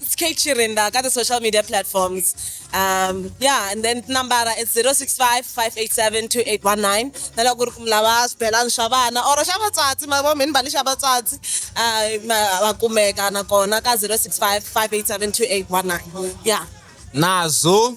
It's Kate Chirinda, got the social media platforms. Um, yeah, and then nambara is 065 587 2819. Nala ku ri ku mi lava swibelani swa vana or xa vatswatsi ma vo mi ni mbali xa vatswatsi ah, ma- va kumeka nakona ka 065 587 2819. Yeah. Nazo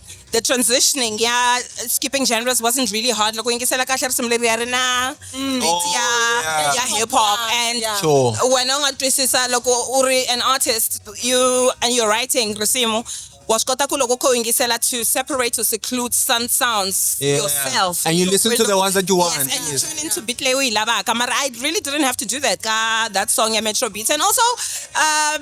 the transitioning yeah skipping genres wasn't really hard loko yingisela kahle risimu leri ya ri na mm. beat oh, ya ya hip hop and wena u nga twisisa loko u ri an artist you and you're writing risimu wa swi kota ku loko kho yingisela to separate to seclude some sounds yeah. yourself and you listen to the ones that you want yes, and you tune into beat leyi u yi lavaka mara i really didn't have to do that ka that song ya metro beats and also um,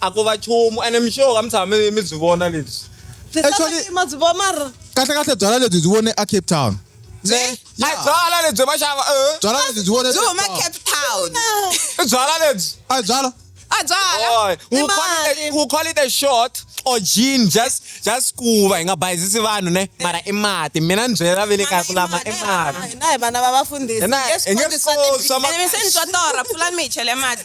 a ko va chumu ene mixoka mi tshama mi mi byi vona lebyi Actually- ma byi vona mara kahle kahle byala lebyi byi vone a cape town ne a Yeah. byala lebyi va xava eh, byala lebyi byi vone byi huma cape town i byala lebyi a hi byala a byala Boy, ni we'll call, it mali a, we'll call it a short or gin just just kuva hi nga bayizisi vanhu ne mara i mati mina ni byela ve le kaya ku lama i mati hina hi vana va vafundhisi Hina hi nge swi koti swa ma- se ni twa torha pfulani mi hi chele mati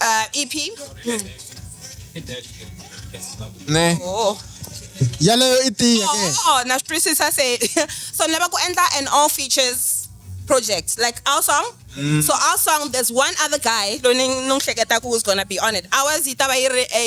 Uh, EP. ne Oh. yaleyo i tiya ke Oh, na swi twisisa se so ni lava ku endla an all features project like our song so our song there's one other guy loyi ni ni n'wi hleketaka who's gonna be on it ours yi ta va yi ri a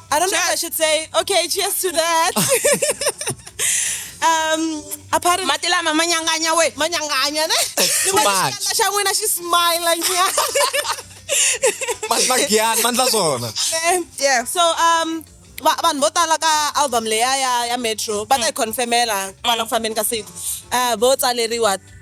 I don't know if I should say, okay, cheers to that. um, apart from mati lama ma nyanganya we ma nyanganya ne Too much. Xikandza xa n'wina xi smile nyana. Makian, mandla zona. yeah so um va- vanhu vo tala ka album leya ya ya metro va ta yi confirmela kwala ku fambeni ka siku um vo tsaleriwa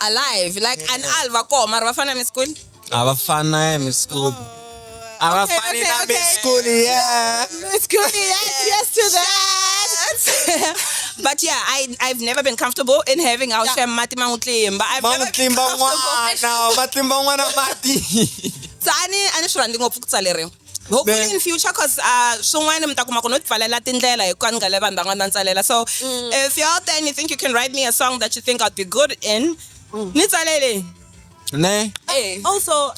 alive like an al va koho mara va fana na miskuni a va fana ya miskuni a va Okay, fani okay, na okay. miskuni ya miskuni yes yes to that but yeah i i've never been comfortable in having out yeah. mati mangutlimba i've ma n'wi never been tlimba comfortable n'wana va tlimba n'wana mati so ani ani swi rhandzi ngopfu ku tsaleriwa hopefully in future cause uh swin'wana mi ta kuma ku no tipfalela tindlela hi kwani ngale vanhu van'wana va ntsalela so mm. if you're out there and you think you can write me a song that you think i'd be good in mm. ni tsalele ne eh. also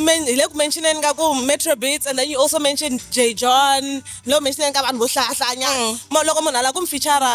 men hi le ku mentioneni ka ku metro beats and then you also mentioned j john lo mentioneni ka vanhu vo hlahlayanyana mm. loko munhu ala ku mi feature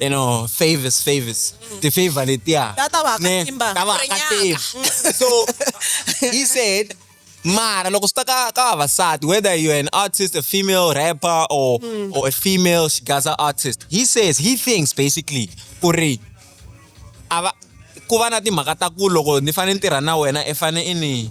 you know favors favors ti favor letiya Ta- ta va Ne, katimba. ta va Ri katimba. so he said mara loko swi ta ka ka vavasati whether you're an artist a female rapper or Hmm. or a female gaza artist he says he thinks basically ku ri a va ku va na timhaka ta ku loko ni fanele ni tirha na wena i fanele i ni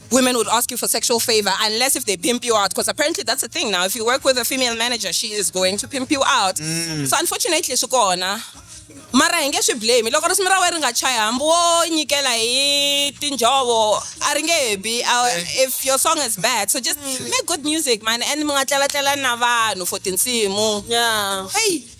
women would ask you for sexual favor unless if they pimp you out because apparently that's a thing now if you work with a female manager she is going to pimp you out mm. so unfortunately swi kona mara hi nge swi blame loko risimi ra wena ri nga chayi hambi wo nyikela hi tinjhovo a ri nge bi if your song is bad so just mm. make good music man and mi nga tlelatlela na vanhu for tinsimu yeah. hey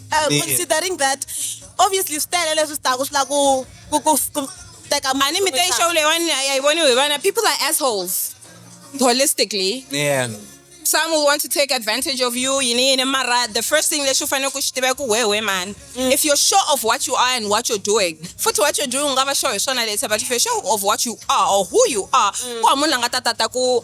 Uh, Ni- considering that obviously swi tele leswi swi taku swi la ku ku ku ku teka a ni mi te show leyiwani a yi voniwi hi vana people are assholes holistically Yeah. some will want to take advantage of you yini yini mara the first thing lexi u fanele ku xi tiva i ku wehe wehe mani if you're sure of what you are and what you're doing futhi what you're doing u nga va sure hi swona later but if you're sure of what you are or who you are ku hava munhu la nga ta tata ku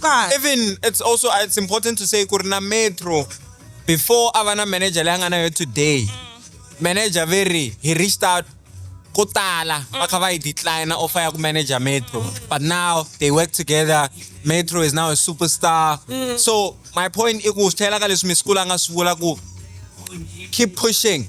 Ka even it's also uh, it's important to say ku ri na metro before a va na manager leyi a nga na yo today manager ve ri he reached out ko tala va kha va yi declina offer ya ku manager metro but now they work together metro is now a superstar so my point i ku swi tlhela ka leswi misikula a nga swi vula ku keep pushing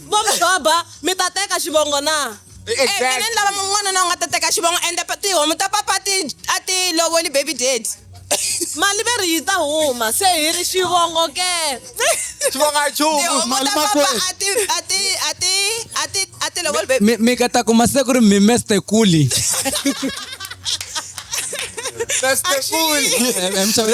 vo mi doba mi ta teka xivongo na e, e, exactly. mina ni lava n'wanuna u nga ta teka xivongo ende tihomu ta papa a ti lovoli baby dad mali veri yi ta huma se hi ri xivongo ke xivongo a chumu mali makweatilowolmi mi ka ta kuma se ku ri mi mester kuli That's the fool. I'm sorry.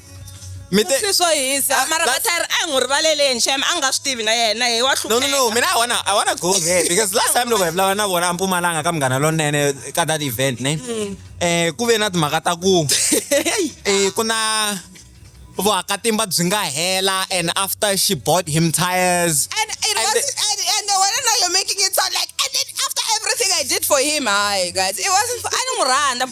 mi te swi swo hisa Ah, mara that's- vatari a hi n'wi rivaleleni xem a nga swi tivi na yena hi wa no no no hlupheka mina i wanna i wanna go there because last time loko hi vulavula na vona a mpumalanga ka munghana lonene ka that event ne eh ku ve na timhaka ta ku eh ku na vuhakatimba byi nga hela and after she bought him tires And it And wasn't, the- and, and the one now you're making it sound like, and then after everything I did for him, hi guys, it wasn't, I don't run, I'm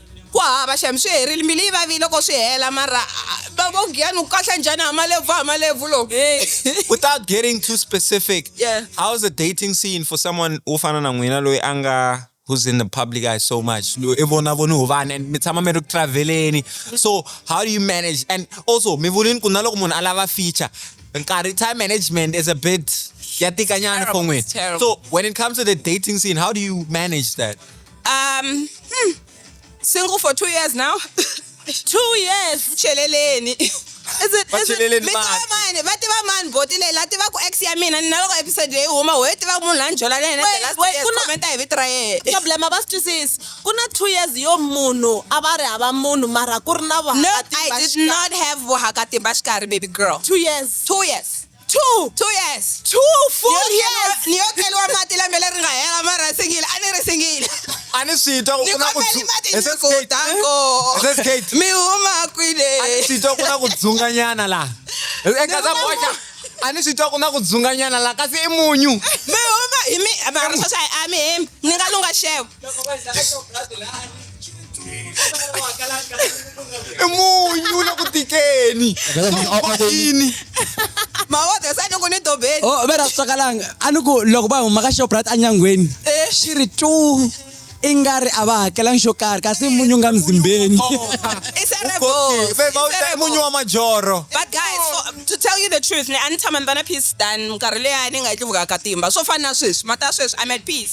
Ku hava xem swi herile mbilu yi vavile loko swi hela mara bavo Giyani u kahle njhani ha malebvu ha malebvu lo Without getting too specific, Yeah. how's the dating scene for someone wo fana na n'wina loyi a nga who's in the public eye so much loyi i vona voni hu vanhu and mi tshama mi ri ku traveleni so how do you manage and also mi vulini ku na loko munhu a lava feature nkarhi time management is a bit ya tika nyana Terrible, for n'wina it's terrible. so when it comes to the dating scene how do you manage that um hmm, single for two years now two years cheleleni Is it- Va is it- cheleleni mi tiva mati. mani va tiva mani boti leyi la tiva ku ex ya mina ni naloko episode leyi huma ho yi tiva ku munhu la ni jola na yena Wait, the last wait, years, ku na- commenta hi vito ra yena problem a va swi twisisi ku na two years yo munhu a va ri hava munhu mara ku ri na no i did not have vuhakatimba xikarhi baby girl two years two years two two years two full Ni yo years keliwa- ni yo keliwa mati lembe leri nga hela mara a singile a ni ri singile a ni swi twa ku ni ku na ku kombeli dzu- mati He says gate. nikutango He says gate. mi huma A ni kwile swi twa ku na ku dzunganyana laha eka za boxa a ni swi twa ku na ku dzunganyana laha kasi i munyu mi huma hi mi mara sweswi a mi hembi ni nga lunga xevo i munyu la ku tikeni ini mawodhe sa loko ni dobeni o oh, ve ra swakalanga a ni ku loko va huma ka shoprite enyangweni eh. xi ri tu i nga ri a va hakelangi xo karhi kasi munyu nga mzimbeni oh. munyu wa majoro but guys oh, to tell you the truth ni a ni tshama ni va na peace dan minkarhi leya ni nga yi tlivukaka timba swo fana na sweswi mata sweswi i'm at peace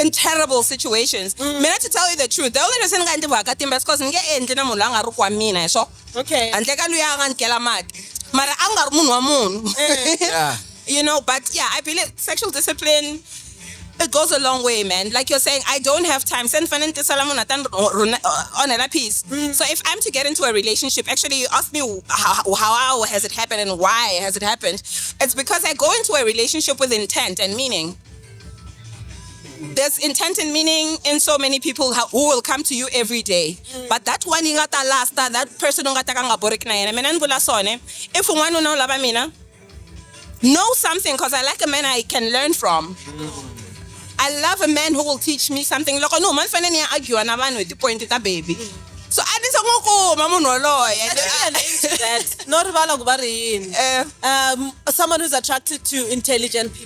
in terrible situations mm. mina to tell you the truth the only reason ni nga endli vakatimba is because ni nge endli na munhu la nga ri kwa mina hi swo okay handle ka luya a nga ni kela mati mara a nga ri munhu wa munhu eh. you know but yeah i believe sexual discipline it goes a long way, man. Like you're saying, I don't have time. Send Fanente Salamun uh, on a piece. Mm. So if I'm to get into a relationship, actually, you asked me how, how has it happened and why has it happened. It's because I go into a relationship with intent and meaning. there's intent and meaning in so many people who will come to you every day mm. but that one you got ta last that person don't got ta ka nga boreki na yena mina ni vula swone if un'wana una u lava mina know something because i like a man i can learn from mm. I love a man who will teach me something. Loko no man fanele ni ya argue na vanhu hi ti-point ta baby. Mm. So a ni se n'wi kuma munhu woloye. Not rivala ku va ri yini. Eh. Um, someone who's attracted to intelligent people.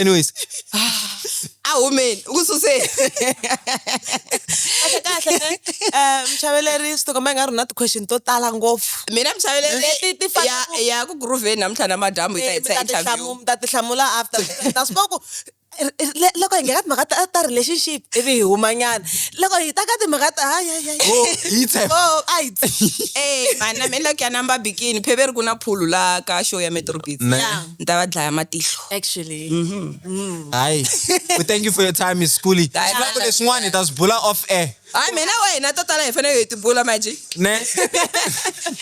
anyways a humeni u ku suseni kahle kahle ne um muchaveleri swi tikomba i nga ri na ti-question to tala ngopfu mina muchaveleriya ku grooveni namuntlha na madyambu yi ta hitsa eh, interview mi ta ti hlamula after na swi ku loko hi nghena timhaka ta ta relationship ivi hi humanyana loko hi ta ka timhaka ta a hi e vana mi loko ya namba bikini pheveri ku na phulu la ka show ya metrobit ni ta va dlaya matihlo actually hayi we thank you for your time miss schooly Hayi, sivako ma- leswin'wana hi ta swi bula off air hayi mina wa hina to tala hi fanele hi tibula maji ne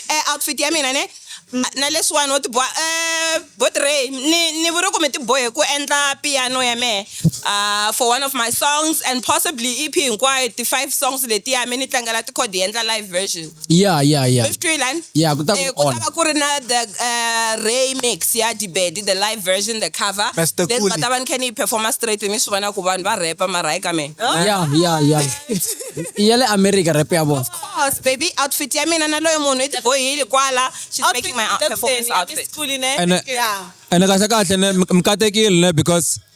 eh outfit ya mina ne na leswiwani wo tiboha eh botrey ni ni vuri ku mi tibohe ku endla piano ya mehe uh, for one of my songs and possibly ep hinkwayo ti-five songs letiya mi ni tlangela tikhodi hi endla live version ya ya ya Twilani? ya ku ta Eh, ku ku ta onha va ku ri na the uh, remix ya dibedi the live version the cover Pastor Then Kuli. va ta va ni khe ni yi performa straight mi swi vona ku vanhu va repa mara hayi ka mina ya ya ya i ya le america rep ya vona course baby outfit ya mina na loyi munhu i tibohile kwala she's making my out- performance outfit and ene kahle kahle ne mi- mi katekile ne because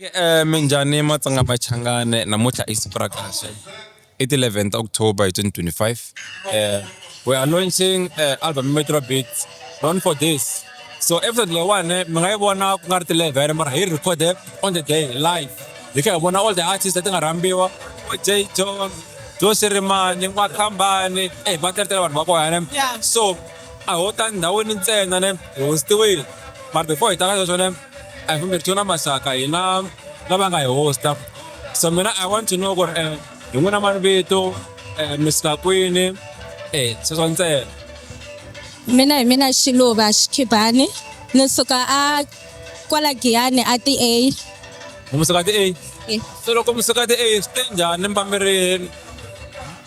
Eh minjhani Matsonga Machangani namuntlha i siku ra kahle i ti eleven ta October hi twenty twenty five eh we are launching eh album Metro Beats known for this so episode leyiwani mi nga yi vona ku nga ri ti eleven mara hi recorde on the day live hi kha hi vona all the artists leti nga rhambiwa J John Joe Shirimani N'wakhambani eh va teletele vanhu va kona ne so a ho ta ndhawini ntsena ne hi hostiwile mara before hi ta ka sweswo ne I kumbe Tuna Masaka hina lava nga hi hosta so mina I want to know ku ri eh, hi n'wina mani vito eh, mi suka kwini eh sweswo ntsena mina hi mina xiluva xikhibani ni suka a kwala giyani a ti a mi suka ti a Eh. so loko mi suka ti a swi te njhani mi va mi ri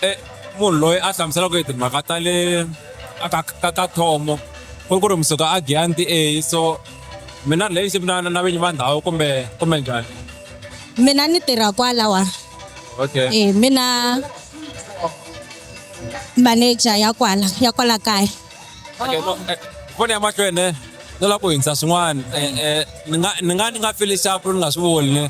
eh, munhu loyi a hlamuselaka hi timhaka ta le a ka ka ka thomo ku ri ku ri mi suka a giyani ti a so mina lexi mina na vinyi va ndhawu kumbe kumbe njhani mina ni tirha kwalawa okay eh mina manager ya kwala ya kwala kaya okay no eh, foni ya mahlweni ni lava ku hindza swin'wana eh, eh, ni nga ni nga ni nga fili xapu ni nga swi voni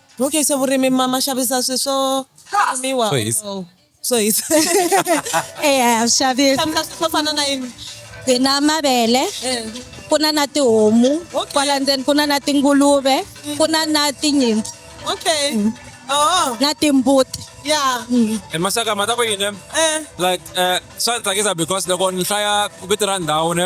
Okay, so vurimi ma ma xavisa swi swo miwa Swo hisa. or- swo hisa eya xavisa xavisa swi swo fana na yini hi na mavele ku na na tihomu kwala ndzeni ku na na tinguluve ku na na tinyimpfu okay oh na timbuti ya e maxaka ma ta ku yini eh like eh swa ni tsakisa because loko ni hlaya vito ra ndhawu ne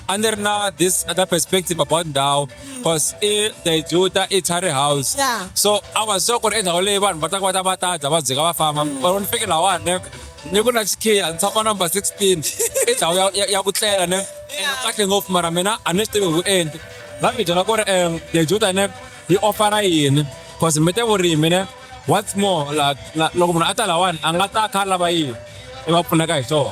a ni ri na this other perspective about ndhawu cause i they do ta i tari house Yeah. so a wa sure ku ri endhawu leyi vanhu va ta kota va ta dya va dzika va famba or ni fike lawani ne ni ku na xikhiya ni tshama number 16 i ndhawu ya- ya- ya ku tlela ne ene kahle ngopfu mara mina a ni swi tivi ku endi va mi byela ku ri um they do ta ne yi ofara yini cause mi te vurimi ne what's more la- la- loko munhu a ta lawani a nga ta kha a lava yini i va pfuneka hi swona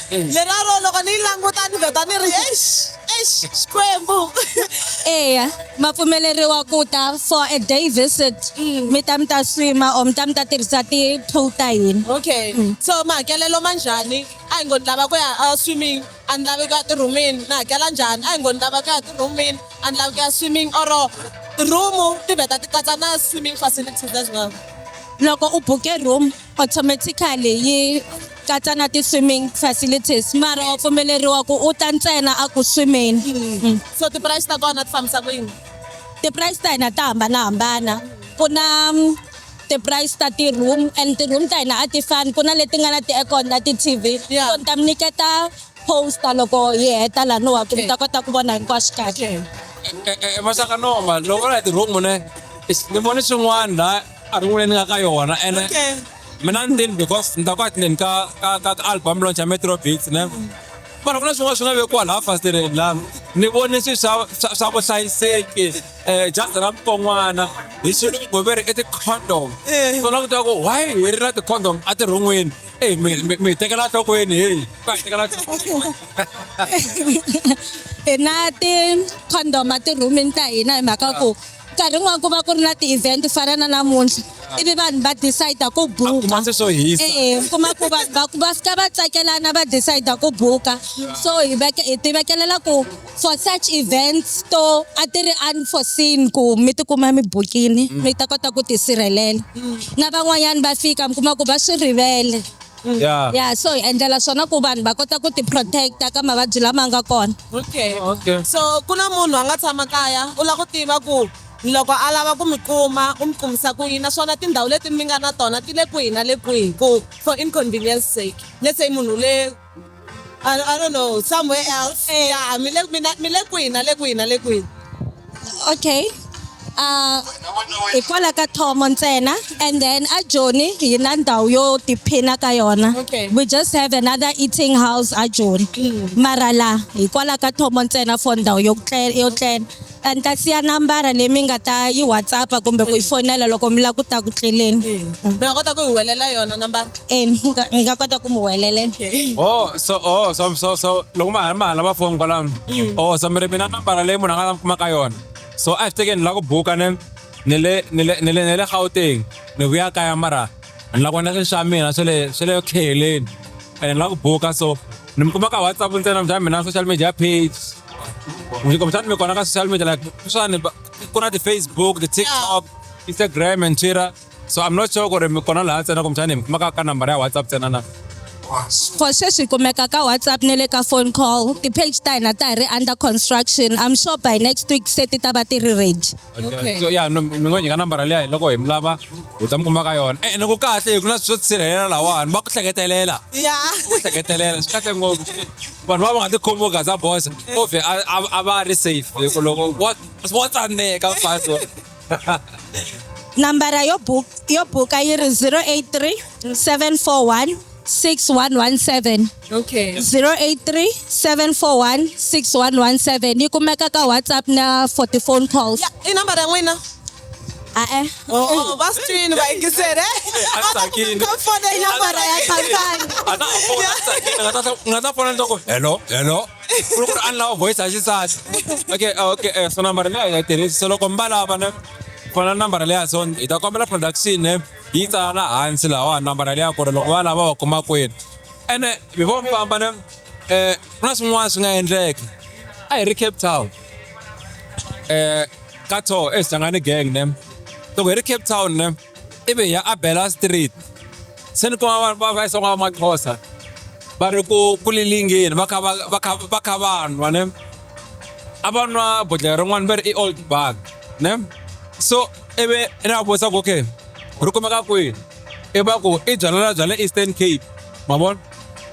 Leraro loko ni yi languta ni vheta ni ri eish eish Xikwembu. Eya, ma pfumeleriwa ku ta for a day visit. Mi ta mi ta swima or mi ta mi ta tirhisa ti-pool ta hina. Okay. So mahakelelo ma njhani? A hi ngo ni lava ku ya a swimming a ni lavi ku ya ti-room-ini ni hakela njhani? A hi ngo ni lava ku ya ti-room-ini a ni lavi ku ya swimming or room ti vheta ti katsa na swimming facilities as well? Loko u buke room. automatically yi katsa na ti-swimming facilities mara wa pfumeleriwa ku u ta ntsena a ku swimeni mm. so ti-price ta kona ti fambisa ku yini ti-price ta hina ta hambanahambana ku na mm, ti-price ta ti-room and ti-room ta hina a ti fani ku na leti nga na ti-aircon na ti-tv so ni ta mi nyiketa poster loko yi heta laniwaka mi ta kota ku vona hinkwaswo kahle e, e, e, masaka noma loko na hi ti-room ne ni vone swin'wana la a ri n'wini nga ka yona ene mina ni tini because ni ta ku a tineni ka ka ka ka album launch ya metro beats ne mara ku na swin'wana swi nga vekiwa laha fasitereni lani ni vone swi swa swa swa vuhlayiseki um jazi ra mukon'wana hi xilungu ve ri i ti-condom so na ku twa ku why hi ri na ti-condom a tirhon'wini eyi mi mi- mi hi tekela nhlokweni heyi va hi tekela nhlokweni hi na ti-condom etirhumini ta hina hi mhaka ku nkarhi n'wana ku va ku ri na ti-event ku fana na namuntlha ivi vanhu va decide ku buka se swo hisa e kuma ku vanhu va va fika va tsakelana va decide ku buka so hi veke hi ti vekelela ku for such events to a ti ri unforeseen ku mi tikuma mi bukini mi ta kota ku tisirhelela na van'wanyana va fika mi kuma ku va swi rivele Mm. Yeah. Yeah, so hi endlela swona ku vanhu va kota ku ti-protect-a ka mavabyi lama nga kona. Okay. Oh, okay. So ku na munhu a nga tshama kaya u lava ku tiva ku loko a lava ku mi kuma u mi kumisa ku yini naswona tindhawu leti mi nga na tona ti le kwihi na le kwihi ku for inconvenience sake let's say munhu le I, I don't know, somewhere else. Eh. Yeah, mi le mi na- mi le kwihi na le kwihi na le kwihi. okay uh hikwalaho ka thomo ntsena and then a joni hi na ndhawu yo tiphina ka yona Okay. we just have another eating house a joni mara la hikwalaho ka thomo ntsena for ndhawu yo tle- yo tlela Ni ta siya nambara leyi mi nga ta yi WhatsApp-a kumbe ku yi fonela loko mi lava ku ta ku tleleni. Mi nga kota ku hi welela yona nambara? E, ni nga, ni nga kota ku mi welelela. Oh, so, oh, so, so, so, loko ma ha ri ma ha lava phone kwalano. Oh, so mi ri mi na nambara leyi munhu a nga ta mi kuma ka yona. So a hi fikeni ni lava ku buka ni, ni le, ni le, ni le, ni le Gauteng, ni vuya kaya mara ni lava ku endla swilo swa mina swa le, swa le tlhelweni. Ene ni lava ku buka so, ni mi kuma ka WhatsApp ntsena, mina social media page. Ngikomisa ni mi kona ka social media like sweswiwani va- ku na ti-facebook ti-tiktok instagram and twitter so i'm not sure ku ri mi kona laha ntsena kumbexani hi mi kumaka ka nambara ya whatsapp ntsena na for sweswi hi kumeka ka whatsapp ne le ka phone call ti-page ta hina ta hi ri under construction i'm sure by next week se ti ta va ti ri ready Okay. so yeah no, mi ngo nyika nambara liya hi loko hi mi lava hi ta mi kuma ka yona Eh, ene ku kahle hi ku na swi swo tisirhelela lawani va ku hleketelela ya ku hleketelela swi kahle ngopfu vanhu va va nga ti khomi vo gaza bosa ove a- a a va ri safe hi ku loko wa wa tsaneka mfazi wa- nambara yo buk yo buka yi ri 083 741 6117 okay 083 741 6117 yi kumeka ka whatsapp na 40 phone calls i nambara ya n'wina Ah, eh. Oh, was tun, weil ich gesehen, eh? Asakin. Kommt von der Jafara, ja, kann sein. Ana phone asakin, ngata ngata phone ndoko. Hello, hello. Kulo ku anla voice ashisas. Okay, ah, okay, eh, so number le ya tirhisa solo kombala bana. Phone number le ya son ita kombela production eh. Yi tsala hansi lawa number le ya ku ri loko va lava va kuma kwini. Ene before mi famba ne eh kuna swin'wana swi nga endleka. A hi ri Cape Town. eh ka tho e sangane gang ne to go re Cape Town ne e be ya Abela Street se ni kuma ba va isonga ma Xhosa ba re ku kulilingeni va kha va va kha va kha vanwa ne a va nwa bodlhela rin'wana va ri i old bag ne so e be e na vutisa ku okay ri kumeka kwihi i va ku i byalala bya le Eastern Cape ma vona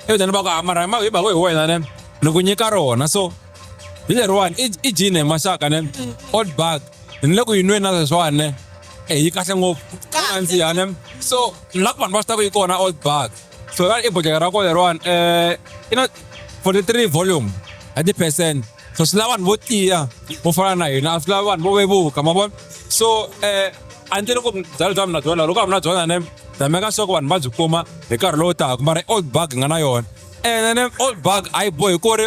e byaleni va ku hamara hi mhaka hi wena ne ni ku nyika rona so hi leriwani i i jini hi maxaka ne old bag ni le ku yi nweni na sweswiwani ne e yi kahle ngopfu Kahle. andziha ne so la ku vanhu va swi ta ku yi kona old bag so i bojeka ra kona leriwani um i na 43 volume hi ti-percent so swi lava vanhu vo tiya vo fana na hina a swi lava vanhu vo vevuka ma vona so um a ni tele ku byala bya mina byona loko a mina byona ne ta meka sure ku vanhu va byi kuma hi nkarhi lowu taka mara i old bag hi nga na yona ene ne old bag a yi bohi ku ri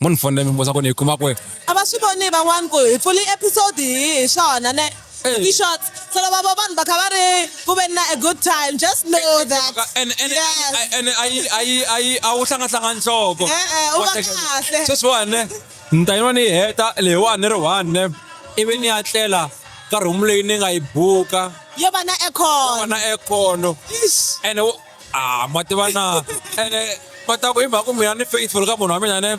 Mo ni fonela mi vutisa ku ni yi kuma kwihi? A va swi voni van'wana ku hi pfule episode yihi hi swona ne. Ti short. Se loko va vona vanhu va kha va ri ku veni na a good time just know that. Ene ene Yes. ene a yi a yi a yi a wu hlangahlanga nhloko. E-e, u va kahle. Sweswiwani ne ni ta yin'wana ni yi heta leyiwani ni ri one ne ivi ni ya tlela ka room leyi ni nga yi buka Yo va na aircon. na aircon Eish. ene wo a ma tiva na ene ma ta ku hi mhaka ku mina ni faithful ka munhu wa mina ne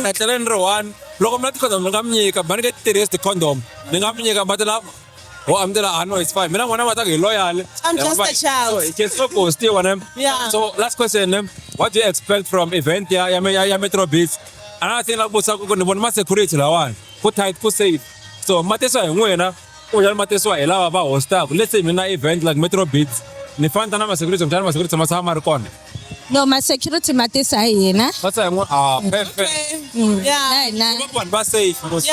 etlele ni ri one loko mina ti-condom ni nga mi nyika mina ni nge ti tirhisi ti-condom ni nga mi nyika mati lava ho a mi tela a no it's fine mina n'wana ma ta ku hi loyale I'm just a child. so it can so ghostiwa ne Yeah. so last question ne what do you expect from event ya ya me- ya ya metro beach another thing la ku vutisa ku ku ni vona ma security lawani ku tight ku safe so ma tisa hi n'wina Kumbexana ma tisiwa hi lava va host-aka. Let's say mina event like Metro Beats, ni fane ni ta na ma-security kumbexana ma-security ma tshama ma ri kona? No, ma-security ma tisa hi hina. Ma tisa hi n'wina? Ah, perfect. Na hina. Ku va ku vanhu va safe mos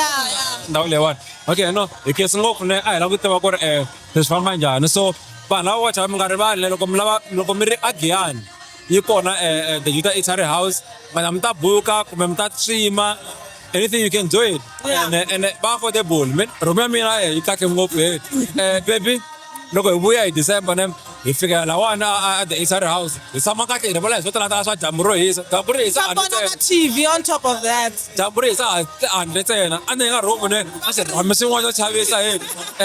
ndhawu leyiwani. Okay, no, hi khensa ngopfu ne, a hi lava ku tiva ku ri um swi famba njhani. So vanhu lava wacha mi nga rivali ne loko mi lava, loko mi ri a Giyani yi kona The Juda Eatery House, mi ta buka kumbe mi ta stream-a. anything you can do it ene ene bafo de bol men romia mi na e itake ngo pe eh baby loko hi vuya hi december ne hi fika lawana at the inside house hi tshama kahle hi rivala hi swo talata swa dyambu ro hisa dyambu ri hisa handle Sapona ntsena TV on top of that. dyambu ri hisa handle ntsena a ni nga rhumu ne a swi rhami swin'wana swo chavisa hi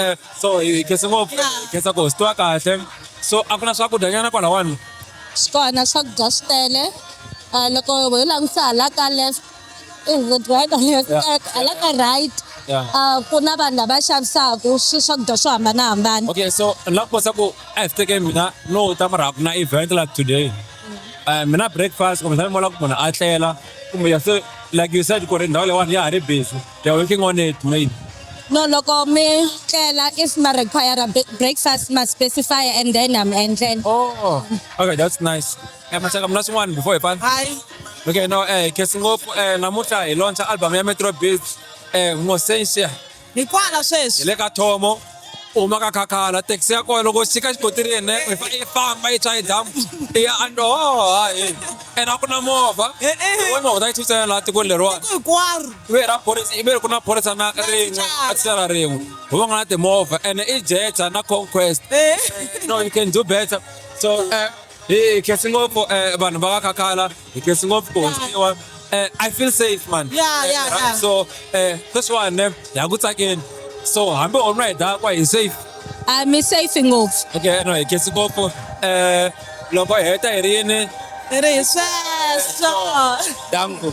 eh so hi khensa ngopfu hi khensa ku hi swi twa kahle so a ku na swakudya nyana kwalawani swi kona swakudya swi tele um loko ho langutisa hala ka left is it right or not Yeah. Like, a la ka right Yeah. Ah, ku na vanhu lava xavisaka swi swakudya swo hambanahambana okay so ni lava ku kosa ku ehetekeni mina no ta mara ku na event la today um mina breakfast kumbe sani mola ku munhu a tlela kumbe ya se like you said ku ri ndhawu leyiwani ya ha ri busy they are working on it maybe no loko mi tlela if ma require breakfast ma specify and then am endlela oh okay that's nice Eh, Mashaka mna swin'wana before hi pfala. Hi. Okay, no, eh, khetsi ngopfu eh, namuntlha hi launcha album ya Metro Beats eh, Ngosensia. Hi kwala Hi sweswi. le ka Thomo, u huma ka Khakhala, taxi ya kona loko u xika xikontiri yene, u fa- i famba i tshwa hi damu, i ya and oh, hayi. And a ku na movha. Eh, eh. Wena u ta yi thutsela laha tikweni leriwani. Hinkwaro. Ibe ra phorisa, ibe ri ku na phorisa na rin'we, a tisela rin'we. Hi va nga na timovha, ene i Jetta na Conquest. Eh. No, you can do better. So, eh, Hey, khetsi ngopfu eh vanhu va kakhala, khetsi ngopfu ku hoxiwa. Eh I feel safe man. Yeah, yeah, Eh, yeah. So eh this one eh ya ku tsakeni. So hambi u nwa hi dakwa hi safe. a mi safe ngopfu Okay, no hi khetsi ngopfu. Eh loko hi heta hi ri yini? ri sweswo Danko.